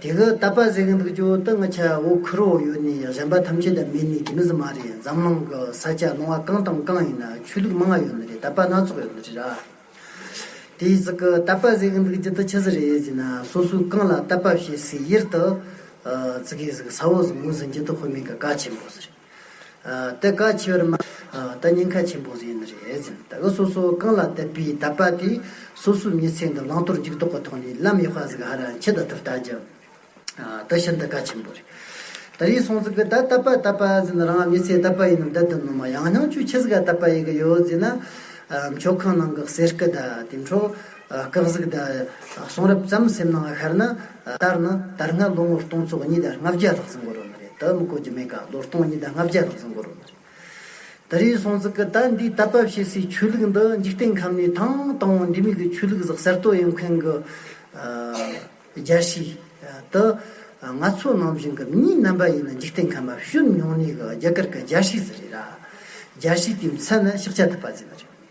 དེ་གི་ད་པ་ཟེ་གི་འདུག་ཅོ་ཏི་ང་ཆ་བོ་ཁུ་རོ་ཡོ་ནི་གཞན་པ་ཐམས་ཅད་ད་མི་ནི་གི་མི་ཟི་མ་རེད་འཛམ་གླང་གི་ས་ཆ་ལོང་བ་གང་དང་གང་ཡིན་ན་ཆོས་ལུགས་མ་ང་ཡོ་ནི་རེད་ད་པ་སྣ་ཚོགས་ཡོ་ནི་རེད་ར། དེ་ཟི་གི་ད་པ་ཟེ་གི་འདུག་ཅི་ཏི་ཆི་ཟི་རེད་ཟི་ན་སོ་སོའི་གང་ལ་ད་པ་བཤད་སི་ཡིར་ཏི། ཙི་གི་ཟི་གི་ས་བོ་ཟི་མུ་ཟི་འཇི་ཏི་ཧོ་མི་གི་ཀ་ཆེན་པོ་ཟི་རེད། ད་ག་ཆེ་བར་མ། ད་སྙིང་ཁ་ཆེན་པོ་ཟིན་རེད། ད་ག་སོ་སོ་རྐང་ལག་དད་པའི་དད་པ་དེ་སོ་སོའི་མྱི་ཚེ་འདི་བླང་དོར་འཇུག་ལྡོག་གི་ཐོག་ནས་བླ་མའི་དཔའ་གཟིགས་ཧ་ར་འཆི་ད་ཐུབ་ལྟ་རྒྱུ། ད་ཤིན་ཏུ་ག་ཆེན་པོ་རེད། ད་རིའི་སོང་ཟིག་གི་ད་དད་པ་དད་པ་ཟིན་རང་མྱི་ཚེ་དད་པ་ཡིན་ནམ་དད་དུ་ནོར་མ་ཡང་སྙིང་བཅུད་འཆི་ཟིག་ག་དད་པ་ཡི་གི་ཡོད་ཟིན་ན། མཆོད་ཁང་ནང་གི་གསེར་སྐུ་ད་དེ་འཕྲོ། སྐབས་གཟུགས་དང་གསུང་རབ་ཙམ་སེམས་ནང་ཤར་ན། ལྟར་ན་དར་སྔ་ལོ་ངོ་སྟོང་ཚོ་གཉིས་དང་ལྔ་བརྒྱ་ལྷག་ཙམ་འགོར་བ་མ་རེད་དམ་གོ་རྒྱུ་མེད་ག་ལོ་སྟོང་གཉིས་དང་ལྔ་བརྒྱ་ལྷག་ཙམ་འགོར་བ་མ་རེད། ད་རེའི་སྲོང་བཙུགས་ཀྱི་ད་འདིའི་ད་བབས་བྱེད་སའི་ཆོས་ལུགས་འདི་འཇིག་རྟེན་ཁམས་ནས་ཐང་དང་བོ་འབྲི་མེད་ཀྱི་ཆོས་ལུགས་གཟགས་གསར་གཏོད་ཡོང་མཁན་གྱི་རྒྱལ་སྲིད་དེ་ང་ཚོ་ནང་བཞིན་གྱི་མྱི་རྣམ་པ་ཡིན་ན་འཇིག་རྟེན་ཁམས་པར་ཤུལ་མྱོང་གནས་གྱི་རྒྱ་གར་གྱི་རྒྱལ་སྲིད་ཟེར་རེད་ར། རྒྱལ་སྲིད་དེའི་མཚན་ནི་ཤེག་ཆ་ཐུབ་པ་ཟེར་བ་རེད།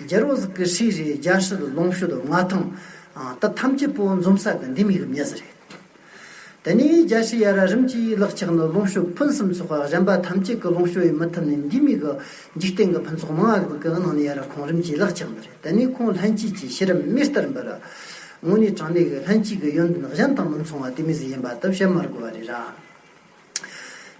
རྒྱལ་རོང་ཟི་ཀི་ཧྲི་རི་རྒྱལ་ཧྲི་ལ་ལོངས་ཤུ་དོ་མངའ་ཐང་ད་ཐམས་ཅད་པོ་འཛོམ་ས་གི་འདི་མིག་རིམ་ཡ་ཟི་རེད་དེ་ནས་རྒྱལ་ཧྲི་ཡ་ར་རིམ་གྱིས་ལག་ཆགས་ནི་ལོངས་ཤུ་ཕུན་སུམ་ཚོགས་གཞན་པ་ཐམས་ཅད་ཀྱི་ལོངས་ཤུ་ཡི་མི་ཐུབ་ནས་འདི་མིག་གི་འཇིག་རྟེན་གྱི་ཕུན་ཚོགས་མ་ང་གི་གི་ནང་ནས་ཡ་ར་ཁོང་རིམ་གྱིས་ལག་ཆགས་འདི་རེད་དེ་ནས་ཁོང་ལྷན་སྐྱེས་ཀྱི་ཤེས་རབ་མེ་ལྟར་འབར། དངོས་གནས་དྲང་གནས་ཀྱི་ལྷན་སྐྱེས་ཀྱི་ཡོན་ཏན་གཞན་དང་མི་མཚུངས་བ་དེ་མི་ཟི་ཡིན་པ་དག་བཤད་མ་དགོས་བ་རེད་ར།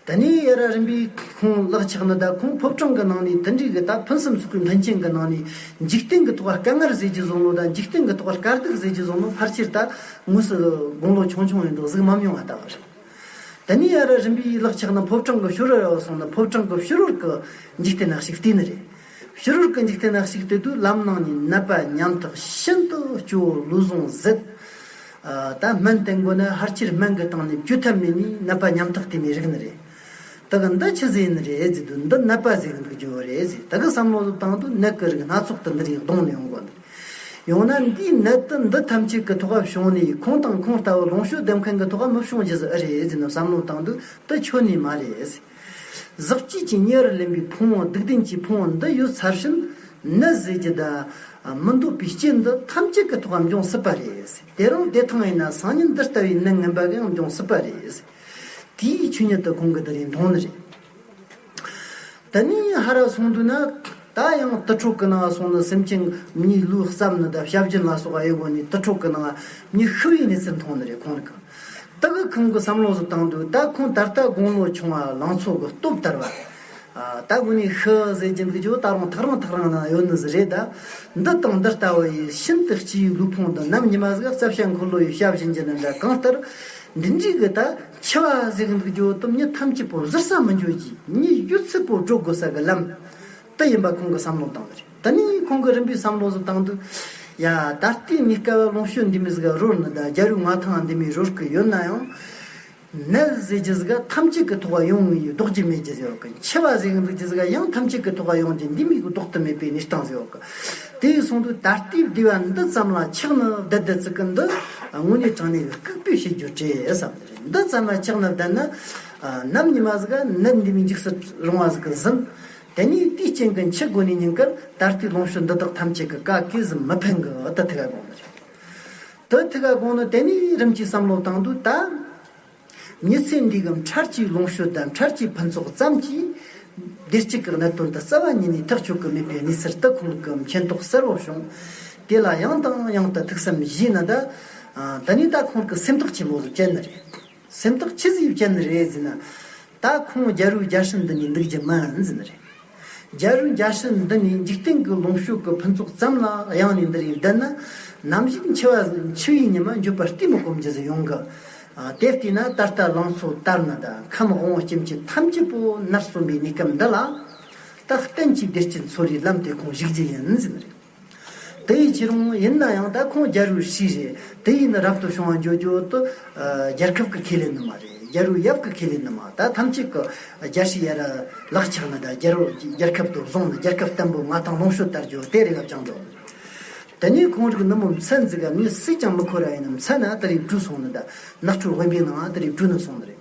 ད་ནི་ཡེས་ར་རིམ་པའི་ཁོང་གླགས་ཆགས་ནི་ད་ཁོང་ཕོབ་གྲངས་ཀྱི་ནང་ནས་དུད་འགྲིག་གི་ད་ཕུན་སུམ་ཚོགས་པའི་མཐུན་རྐྱེན་གྱི་ནང་ནས་འཇིག་རྟེན་གྱི་ཐོག་ཀ་ངར་ཟས་ཀྱི་བཟོ་ལོ་ད་འཇིག་རྟེན་གྱི་ཐོག་ཀ་སྐར་རྡུལ་ཟས་ཀྱི་བཟོ་ལོ་ཕར་ཆེར་ད་དངོས་སུ་དགུང་ལོ་ཆུང་ཆུང་ཡིན་མདོག་གཟུགས་མམ་ཡོང་བ་ལྟ་བུ་རེད། ད་ནི་ཡེས་ར་རིམ་པའི་གླགས་ཆགས་ནི་ཕོབ་གྲངས་ཀྱི་ཕྱི་རོལ་ཡོ་སོང་ནི་ཕོབ་གྲངས་ཀྱི་ཕྱི་རོལ་གྱི་འཇིག་རྟེན་ནག་ཞིག་བལྟས་ནི་རེད། ཕྱི་རོལ་གྱི་འཇིག་རྟེན་ནག་ཞིག་བལྟས་དུས་ལམ་ནང་ནས་ནད་པ་ཉམ་ཐག་ཤིན་ཏུ་སྐྱོ་བོ་ལུས་ཟུངས་ཟད། ད་སྨན་བསྟེན་དགོས་ན་ཧར་ཅིར་སྨན་གྱི་སྟེང་ནས་བཅོས་ཐབས་མེད་ནི་ནད་པ་ཉམ་ཐག་བསྟེན་པའི་རིགས་ནི་རེད། ད་གི་འདི་ཕྱི་ཟས་ཡིན་རེད་ཟེར་དུས་འདི་ནད་པ་ཟས་ཀྱི་འདུག་རྒྱུ་རེད་ཟེར་ད་གི་བསམ་བློ་དུ་བཏང་དུས་ནད་ཀྱི་རིགས་སྣ་ཚོགས་དུ་འདི་རིགས་གདོང་ནས་ཡོང་དགོས་འདུག་ཡང་ན་འདིའི་ནད་དུ་འདི་ཐམས་ཅད་ཀྱི་ཐོག་བྱུང་ནས་ཁོང་དང་ཁོང་ལྟ་བུ་ལོངས་སྤྱོད་ལྡེམ་མཁན་གྱི་ཐོག་མི་བྱུང་རྒྱུ་ཟེར་ཨི་རེད་ཟེར་ནས་བསམ་བློ་བཏང་དུས་འདི་ཆོས་ནི་མ་རེད་ཟེར། གཟི་བརྗིད་ཀྱི་གཉེར་བར་ལེན་པའི་ཕུང་བོ་སྡུག་བདེན་གྱི་ཕུང་བོ་འདི་ཡོད་ཚར་ཕྱིན། ནད་ཟས་ཀྱི་བདག། མི་འདོད་པའི་རྐྱེན་འདི་ཐམས་ཅད་ཀྱི་ཐོག་འམ་འབྱུང་སྲིད་པ་རེད། དེ་རང་བདེ་ཐང་ཡིན་ན་སང་ཉིན་འདི་ལྟ་བུའི་ནད་ངན་པ་གང་འབྱུང་སྲིད་པ་རེད། དེའི་ཆོས་ཉིད་དུ་གང་གི་དེ་རིང་མཐོང་ནི་རེད། དེ་ནས་ཧ་ར་སོང་དུས་ན། ད་ཡང་ཏི་ཕྲུག་གི་ནང་སོང་ནི་སེམས་ཅན་མྱི་ལུས་བརྩམས་ནི་འདབ་ཞབས་རྒྱུན་ལ་སོགས་དབྱེ་བགོ་ནས་ཏི་ཕྲུག་གི་ནང་མྱི་ཤི་བའི་གནས་ཚུལ་མཐོང་ནི་རེད་ཁོང་གི་ཏི་གི་ཁང་གི་བསམ་བློ་བཟོ་སྟངས་འདུག་ད་ཁོང་ད་ལྟ་དགུང་ལོ་ཆུང་བ་ལང་ཚོ་གི་སྟོབས་དར་བ། ད་དགོན་ནས་ཤི་ཟེར་གྱི་འདུག་ཀྱོ་ད་རུང་ཐག་རིང་ཐག་རིང་ན་ཡོད་ནི་ཟི་རེད་ད། འདི་དང་འདི་ལྟ་བུ་ཡི་ཤིན་ཏུ་སྐྱིའི་ལུས་ཕུང་འདི་ནམ་ཉི་མ་ཟིག་རྩབ་ཞྭ་འཁོར་ལོ་ཡི་ཞབས་བཞིན་གྱི་ནི་འདྲ་གང་ལྟར། འདི་འདྲིས་གི་ད་འཆི་བ་ཟེར་གི་འདུག་ཀྱོ་སྟོབས་མྱི་ཐམས་ཅད་པོ་གཟིར་ས་མི་འགྱུར་གྱི་མྱི་གཡུལ་ཚུལ་པོ་འགྲོ་དགོས་ས་གི་ལམ། དུ་ཡིན་པ་ཁོང་གི་བསམ་བློ་བཏང་བ་རེད་ད་ནི་ཁོང་གི་རིམ་པའི་བསམ་བློ་སུ་བཏང་འདུག་ཡ། ད་ལྟའི་མི་སྐལ་བ་ལོངས་སྤྱོད་འདི་མི་སྒ་རོར་ནི་ད་རྒྱ་རུ་ང་ཐང་འདི་མི་རོར་གི་ཡོད་ན་ཡང། ནལ་ཟས་ཀྱི་སྒ་ཐམས་ཅད་ཀི་ཐོག་ག་ཡོང་ངི་ཡོད་ལྡོག་ཀྱི་མེད་ཀྱི་ཟེར་བ་གི་འཆི་བ་གཟེངས་རིགས་ཀྱི་སྒ་ཡང་ཐམས་ཅད་ཀི་ཐོག་ག་ཡོང་རྒྱུ་འདི་མི་གི་ལྡོག་ཏུ་མེད་པའི་ནི་སྟངས་ཟེར་བ་གི། དེ་ཡི་སོང་དུས་ད་ལྟའི་བདེ་བ་འདི་ཙམ་ལ་ཆགས་ནི་བདེ་བདེ་ཙི་གི་འདི་དངོས་གནས་དྲང་གནས་ཀི་སྐུག་པའི་ཞིག་རྒྱུ་དྲེས་བསམ་གི་རེད་འདི་ཙམ་ལ་ཆགས་ནི་བདེ་ནི། ནམ་ཉི་མ་ཟིག་ནད་འདི་མི་འཇིགས་སྲིད་རུང་བ་ཟིག་ཟིན། དེ་ནས་དེའི་རྐྱེན་གྱི་འཆི་སྒོ་ནས་ཉིན་སྐར་ད་ལྟའི་ལོངས་སྤྱོད་འདི་དག་ཐམས་ཅད་ཀྱི་བཀའ་གས་སུ་མི་ཕན་གི་དུ་ཐི་ག་དགོངས་ནི་རེད། དུ་ཐི་ག་དགོངས་ནི་དེ་ནས་རིམ་གྱིས་བསམ་བློ་བཏང་དུས་ད་ཉི་ཚེ་འདི་གམ་འཕྲལ་གྱི་ལོངས་སྤྱོད་དམ་འཕྲལ་གྱི་ཕུན་ཚོགས་ཙམ་གྱིས་བདེ་སྐྱིད་ཀྱི་གནད་དོན་དུ་རྩ་བ་ཉིད་ནས་ཐག་གཅོད་ཀྱི་མེད་པའི་གནས་ཚུལ་དུ་ཁོང་ལུགས་ཀྱི་མཁྱེན་རྟོགས་གསལ་བོར་བྱུང། དེ་ལ་ཡང་དང་ཡང་དུ་ཐུགས་བསམ་བཞེས་ནི་ད་ནི་ད་ཁོང་གི་སེམས་ཐག་ཆེན་པོ་ཟིག་བཅད་ནི་རེད། སེམས་རྟོག་ཅི་ཟིག་ཅན་རེད་ཟེར་ན། ད་ཁོང་རྒྱ་རུ་རྒྱ་ཧྲི་འདི་ནས་འདུག་རྒྱུ་མིན་ཟེར་ནི་རེད། རྒྱ་རུ་རྒྱ་ཧྲི་འདི་ནི་འཇིག་རྟེན་གྱི་ལོངས་ཤུགས་ཀྱི་ཕུན་ཚོགས་ཙམ་ལ་གཡེང་ནས་འདི་རིང་བསྡད་ན། ནམ་ཞིག་འཆི་བ་འཆི་བའི་ཉི་མ་འཇུག་པར་གཏི་མུག་གོམས་རྒྱུ་ཟིག་ཡོང་གི། དེ་བལྟས་ན་ད་ལྟ་ལང་ཚོ་དར་ནི་དང་ཁམས་དབང་བོ་སྐྱེ་མཆེད་ཐམས་ཅད་པོ་ནར་སོན་པའི་གནས་སྐབས་འདི་ལ། ད་གཏན་གྱི་བདེ་སྐྱིད་འཚོ་རིའི་ལམ་དེ་ཁོང་གཞིག་རྒྱུ་ཡིན་ཟེར་ནི་རེད། དེ་ཡི་ཕྱིར་མོ་ཡིན་ན་ཡང་ད་ཁོང་རྒྱ་རུའི་ཕྱི་རེད་དེ་ཡིན་ན་རབ་ཏུ་བྱུང་བ་འཇོག་རྒྱུ་ཏུ་རྒྱལ་ཁབ་ཀྱི་ཁེ་ལས་ནི་མ་རེད་རྒྱ་རུའི་ཡབ་ཀྱི་ཁེ་ལས་ནི་མ་ད་ཐམས་ཅད་ཀྱི་རྒྱ་ཞིག་ཡ་ར་ལག་ཆགས་ན་ད་རྒྱ་རུ་རྒྱལ་ཁབ་ཏུ་བཟུང་ན་རྒྱལ་ཁབ་བརྟན་པོ་མ་ཐང་ལོངས་ཤོད་ལྟར་རྒྱུ་དེ་རེད་ལབ་ཀྱང་འགྲོ། དེ་ནས་ཁོང་རིགས་ནི་མོ་མཚན་འཛིན་ག་ནི་སུས་ཀྱང་མི་ཁོ་ར་ཡིན་ནམ་མཚན་ན་དེ་རིགས་བཀྲུས་སོང་ན་ད་ནགས་ཁྲོད་དབེན་པའི་ནང་དེ་རིགས་བཀྲུས་ནས་སོང་ནི་རེད།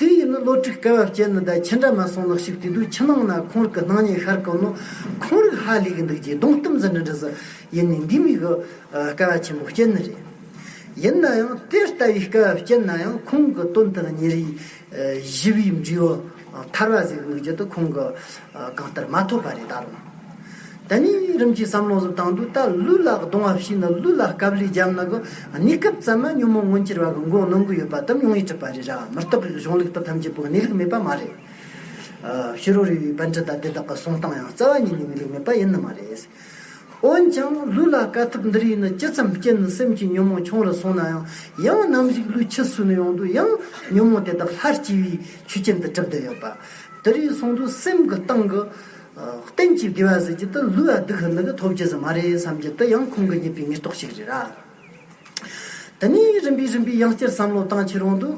དེ་ཡིན་ནི་ལོ་དྲུག་སྐལ་བ་བསྐྱལ་ནི་ད་ཁྱེད་འདྲ་མ་སོང་ལགས་ཞིག་དུས་དུས་ཕྱི་ནང་ན་ཁོང་རིགས་ཀྱི་སྣང་བརྙན་ཤར་གི་ནོ། ཁོང་རིགས་ཧ་ལས་གི་འདུག་ཅེས་གདོང་གཏུམ་ཙམ་འདྲི་འདྲི་ཟེར། ཡིན་ནི་འདི་མིག་གི་སྐལ་བ་ཆེན་པོ་བསྐྱལ་ནི་རེད། ཡིན་ན་ཡང་དེ་ལྟ་བུའི་སྐལ་བ་བསྐྱལ་ན་ཡང་ཁོང་གི་དོན་དང་ཉེ་རིང་བཞི་བའི་འབྲེལ་བ། ཐར་བ་ཟིག་དམིགས་བརྒྱུད་དུ་ཁོང་གི་གང་ལྟར་མ་ཐོབ་པ་རེ་ད་རུང། དེ་ནས་རིམ་གྱིས་བསམ་བློ་གཟུབ་སྟངས་དུས་ད་ལུས་ལ་གདུང་བ་ཕྱིས་ན་ལུས་ལ་སྐབས་ལས་རྒྱབ་ན་གི་གནས་སྐབས་ཙམ་མ་ཉོན་མོངས་མངོན་གྱུར་བ་གི་མགོ་གནོན་གི་ཡོད་པ་དུམ་ཉུང་ཡིད་ཁྲིད་པ་རེ་ར་མི་རྟག་གི་གཞུང་ལུགས་ལྟར་ཐམས་ཅད་པོའི་གནས་ལུགས་མེད་པ་མ་རེད། ཤི་རོ་རི་བའི་བན་ཁྲི་དང་དེ་དག་གི་གསུང་སྟངས་ཡང་རྩ་བ་ཉིད་ནས་གནས་ལུགས་མེད་པ་ཡིན་ནི་མ་རེད། འོན་ཀྱང་ལུས་ལ་དཀའ་ཐུབ་འདི་རིགས་ནི་ཇི་ཙམ་སྐྱེས་ནས་སེམས་ཀྱི་ཉོན་མོངས་ཆུང་རུ་སོང་ན་ཡང་ཡང་ནམ་གཞིག་ལུས་ཕྱི་སུ་ནས་ཡོང་དུས་ཡང་ཉོན་མོངས་དེ་དག་སླར་སྐྱེ་བའི་ཆུ་རྐྱེན་དུ་གྲུབ་བསྡད་ཡོད་པ། དེ་རིགས་སོང་དུས་སེམས་ཀྱི་སྟེང་གི། སྟེང་སྐྱེས་དགེ་བ་ཟེར་གྱི་དེ་ལུས་ཨ་སྡུག་ཧི་ནི་གི་ཐོབ་རྒྱུ་ཟི་མ་རེད་བསམ་རྒྱུ་དེ་ཡང་ཁོང་གི་རྙེད་པའི་ངེས་རྟོགས་ཤིག་རེད་ར། དེ་ནས་རིམ་པས་རིམ་པས་ཡང་བསྐྱར་བསམ་བློ་བཏང་ཕྱིར་འོང་དུས།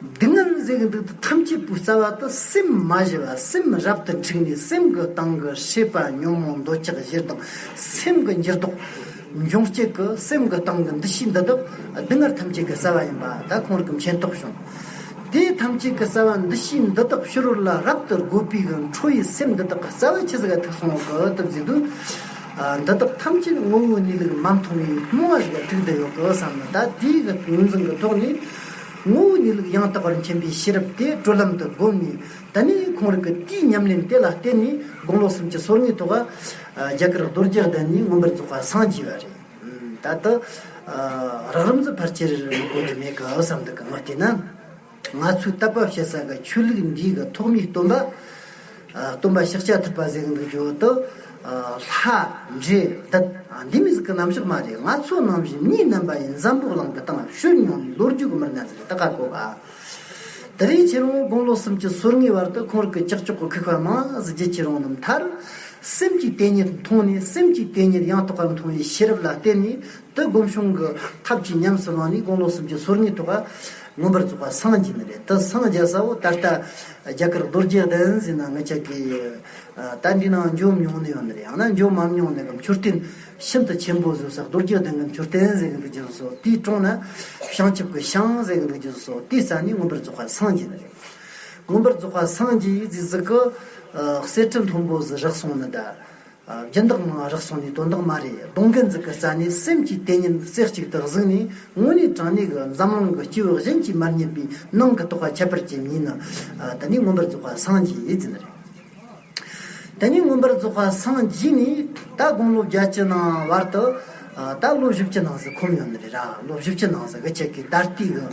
སྡུག་བསྔལ་མཛད་ཀྱི་འདུག་སྟེ་ཐམས་ཅད་པུས་རྩ་བ་དང་སེམས་མ་བཞི་བ་སེམས་རབ་ཏུ་འཁྲིགས་ནས་སེམས་ཀྱི་སྟེང་གི་ཤེས་པ་ཉོན་མོངས་འདོད་ཆགས་བཞིར་དང་སེམས་ཀྱི་འགྱུར་ལྡོག་འབྱུང་བསྐྱེད་ཀྱི་སེམས་ཀྱི་སྟེང་གི་འདུ་ཤེས་འདི་དག་སྡུག་བསྔལ་ཐམས་ཅད་ཀྱི་རྩ་བ་ཡིན་པ་དག་གོང་རིག་མཁྱེན་རྟོགས་བྱུང། དེའི་ཐམས་ཅད་ཀྱི་རྩ་བ་འདུ་ཤེས་འདི་དག་ཕྱི་རོལ་ལ་རབ་ཏུ་རྒོལ་པའི་ཁྲོ་བོའི་སེམས་འདི་དག་གི་རྩ་བ་ཆེ་ཟེར་ཐེག་སོང་གི་གཏུབ་རྫས་འདུག། འདི་དག་ཐམས་ཅད་ངོ་བོའི་གནས་ལུགས་མ་མཐོང་བའི་རྨོངས་བ་ཞིག་ལ་ཐུག་འདི་ཡོད་ཀི་བསམ་ན་ད་ལྟའི་གི་ངོས་འཛིན་གྱི་ཐོག་ནས། ངོ་བོ་ཉིད་ལུགས་ཡང་དག་པར་མཁྱེན་པའི་ཤེས་རབ་དེ་བགྲོད་ལམ་དུ་བསྒོམས་ནས་ད་ནི་ཁོང་རིག་གི་རྟིའི་ཉམས་ལེན་དེ་ལ་བརྟེན་ནས་དགུང་ལོ་སུམ་ཅུ་སོ་གཉིས་ཐོག་རྒྱ་གར་རྡོ་རྗེ་གདན་ནས་མངོན་པར་རྫོགས་པར་སངས་རྒྱས་པ་རེད། ད་དུ་རགས་རིམ་གྱི་ཕར་ཆེར་གོ་རྒྱུ་མེད་གི་བསམ་འདུག་གི་ངོ་བལྟས་ན། ང་ཚོའི་རྟ་བབས་བཤད་ས་གི་ཆོས་ལུགས་འདིའི་གི་ཐོག་མའི་སྟོན་པ། སྟོན་པ་ཤཱཀྱ་ཐུབ་པ་གཟིགས་འདུག་བརྗོད་དུ། ལྷ། འདྲེ། འདི། འདི་མི་གཟིགས་ཀི་ནམ་ཞིག་མ་རེད་ང་ཚོ་ནང་བཞིན་གཉིས་སྣོན་པ་ཡིན་འཛམ་བུ་གླང་གི་སྟེང་ལ་ཤོད་མྱོང་བའི་ལོ་རྒྱུས་ཀི་མི་རྣམས་ཟེར་ཏི་ཁ་གོ་ག། དེ་རིང་ཁྱེད་རང་དགུང་ལོ་སུམ་ཅུ་སོར་ལྔའི་བར་དུ་ཁོང་རིགས་ཀི་ཀྱག་ཀྱོག་གི་ཁུག་པ་མང་གཟི་བརྗིད་ཁྱེད་རང་རྣམས་མཐར། སེམས་ཀྱི་དེ་ཉིད་མཐོང་ནས་སེམས་ཀྱི་དེ་ཉིད་ཡང་དག་པར་མཐོང་བའི་ཤེས་རབ་ལ་བརྟེན་ནས་དུ་སྒོམ་བྱུང་གི་ཐབས་ཀྱིས་ཉམས་སུ་བླངས་ནས་དགུང་ལོ་སུམ་ཅུ་སོར་ལྔའི་ཐོག་ཁ། མངོན་པར་རྫོགས་པ་སངས་རྒྱས་མི་ལས་ཏེ་སངས་རྒྱས་ས་བོ་ད་ལྟ་རྒྱ་གར་རྡོ་རྗེ་གདན་ཟེར་ན་ངེད་ཅག་གི་ད་འདྲི་ནང་འཇོག་མྱོང་ནི་ཡོད་ནི་རེད་ཡང་ན་འཇོག་མམ་མྱོང་ནི་གམ་འཕྱུར་རྟེན་ཤིན་ཏུ་ཆེན་པོ་བཟོས་ས་རྡོ་རྗེ་གདན་གྱི་འཕྱུར་རྟེན་ཟེར་གྱི་འདུག་རྒྱུ་སོ་དེའི་དྲུང་ན་བྱང་ཆུབ་ཀྱི་ཤང་ཟེར་གྱི་འདུག་རྒྱུ་སོ་དེའི་ས་ནི་མངོན་པར་རྫོགས་པ་སངས་རྒྱས་མི་ལས་མངོན་པར་རྫོགས་པ་སངས་རྒྱས་ཡིག་འཛིན་གཟིགས་ཀྱི་གསེར་ཁྲི་མཐོན་པོ་བཟི་རག་སོང་ནི་གདའ། སྦྱིན་བདག་མ་རག་སོང་ནས་དོན་དག་མ་རེད་གདོང་གིན་འཛུག་གི་རྩ་ནས་སེམས་ཀྱི་དེ་ཉིན་རྩེ་གཅིག་ཏུ་གཟུགས་ནས་དངོས་གནས་དྲང་གནས་ཀྱི་འཛམ་གླིང་གི་སྐྱེ་བོ་གཞན་གྱིས་མར་ཉན་པའི་ནང་གི་རྟོགས་པ་ཁྱད་པར་ཅན་ཉིད་ནི། དེ་ནས་མངོན་པར་རྫོགས་པ་སངས་རྒྱས་ཡིད་བཞིན་རེད། དེ་ནས་མངོན་པར་རྫོགས་པ་སངས་རྒྱས་ནི་ད་དགུང་ལོ་བརྒྱད་ཀྱི་ནང་བར་དུ། ད་བློ་བཞི་བཅུ་ནང་ཟི་ཁོམ་ཡོད་ནི་རེད་ར་བློ་བཞི་བཅུ་ནང་ཟི་གི་ཁྱེད་ཀྱི་ད་ལྟའི་གི་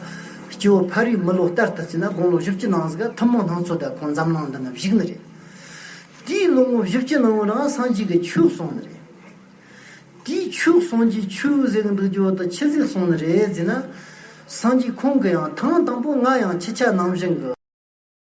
སྐྱེ་བོ་ཕ་རིའི་མི་ལོ་ལྟར་དུ་བརྩིས་ན་དགུང་ལོ་བཞི་བཅུ་ནང་ཟི་ག་ཐུན་མོང་སྣང་ཚོད་ད་ཁོང་འཛམ་གླིང་འདི་ནི་བཞུགས་ནི་རེད། དེའི་ལོ་ངོ་བཞི་བཅུ་ནང་བོད་རང་སངས་རྒྱས་ཀྱི་ཆོས་གསུངས་ནི་རེད། དེའི་ཆོས་གསུངས་རྗེས་ཆོས་གཟིགས་འདུག་རྒྱུ་དང་ཕྱི་གཟིགས་གསུངས་ནི་རེད་ཟེར་ན། སངས་རྒྱས་ཁོང་གི་ཡང་ཐང་དང་པོ་ང་ཡང་ཁྱི་ཆ་ནང་བཞིན་གི།